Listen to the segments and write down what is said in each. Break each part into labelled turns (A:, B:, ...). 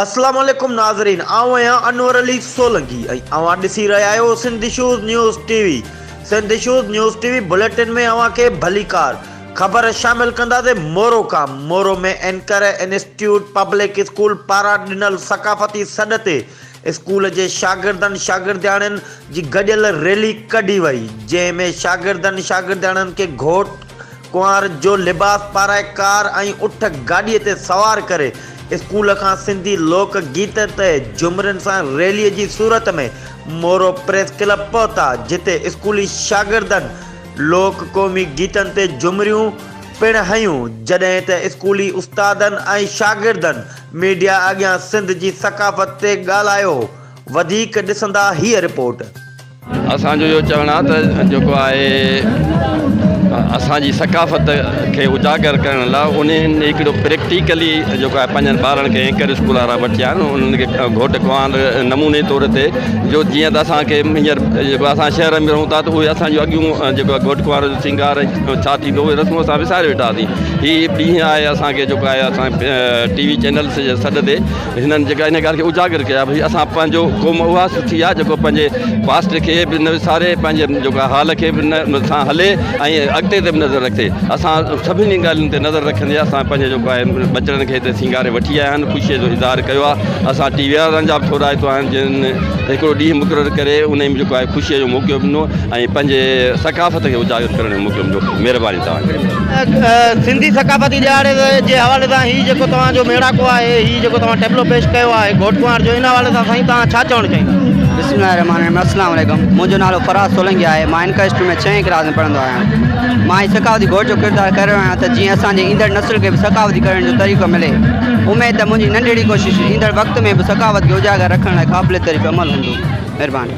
A: اسلام عليڪم ناظرين آئون آهيان انور علي سولنگي ۽ اوهان ڏسي رهيا آهيو Sindh shows news T V Sindh shows news T V bulletin ۾ اوهان کي ڀليڪار خبر شامل ڪنداسين مورو ڪام Moro ۾ anchor institute public school پاران ڏنل ثقافتي سڏ تي اسڪول جي شاگردن شاگردياڻين جي گڏيل ريلي ڪڍي وئي جنهن ۾ شاگردن شاگردياڻين کي گهوٽ ڪنوار جو لباس پارائي ڪار ۽ اٺ گاڏي تي سوار ڪري اسڪول کان سنڌي لوڪ گيت تي جهمرين سان ريلي جي صورت ۾ مورو پريس ڪلب پهتا جتي اسڪولي شاگردن لوڪ قومي گيتن تي جهمريون پڻ هنيون جڏهن ته اسڪولي استادن ۽ شاگردن ميڊيا اڳيان سنڌ جي ثقافت تي ڳالهايو، وڌيڪ ڏسندا هيء رپورٽ. اسان جو
B: اهو چوڻ آهي ته جيڪو آهي اسان جي ثقافت کي اجاگر ڪرڻ لاء انهن هڪڙو پريڪٽيڪلي جيڪو آهي پنهنجن ٻارن کي اينڪر اسڪول وارا وٺيا آهن انهن کي گهوٽ ڪنوار نموني طور تي جو جيئن ته اسان کي هينئر جيڪو اسان شهر ۾ رهون ٿا ته اهي اسان جون اڳيون جيڪو آهي گهوٽ ڪنوار جو سينگار ڇا ٿيندو اهي رسمون اسان وساري ويٺا هئاسين هي ڏينهن آهي اسان کي جيڪو آهي اسان ٽي وي چينلس جي سڏ تي هنن جيڪا هن ڳالهه کي اجاگر ڪيو آهي اسان پنهنجو قوم اها سٿي آهي جيڪو پنهنجي پاسٽ کي به نه وساري پنهنجي جيڪا حال کي به نه سان هلي ۽ اڳتي تي به نظر رکي اسان سڀني ڳالهين تي نظر رکندي اسان پنهنجي جيڪو آهي ٻچڙن کي هتي سينگاري وٺي آيا آهن خوشي جو اظهار ڪيو آهي اسان ٽي وي وارن جا به ٿورائتو آهن جن هڪڙو ڏينهن مقرر ڪري ان ۾ جيڪو آهي خوشي جو موقعو ڏنو ۽ پنهنجي ثقافت کي اجاگر ڪرڻ جو موقعو مليو مهرباني توهان جي. سنڌي ثقافتي
C: ڏهاڙي جي حوالي سان هي جيڪو توهان جو ميڙاڪو آهي هي جيڪو توهان ٽيبلو پيش ڪيو آهي گهوٽ ڪنوار جو ان حوالي سان سائين توهان ڇا چوڻ چاهيندا. بسم الله الرحمٰن الرحيم
D: السلام عليڪم منهنجو نالو فراز سولنگي آهي مان انڪر اسٽريم ۾ ڇهين ڪلاس ۾ پڙهندو آهيان مان هي ثقافتي گهوٽ جو ڪردار ڪري رهيو آهيان ته جيئن اسان جي ايندڙ نسل کي به ثقافتي ڪرڻ جو طريقو ملي اميد ته منهنجي ننڍڙي ڪوشش ايندڙ وقت ۾ به ثقافت کي اجاگر رکڻ لاء قابل تعريف عمل هوندو مهرباني.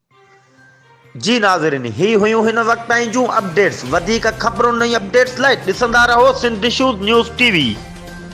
A: جي ناظرين هي هيون هن وقت تائين جون اپڊيٽس وڌيڪ خبرون ۽ اپڊيٽس لاء ڏسندا رهو Sindh shows news T V.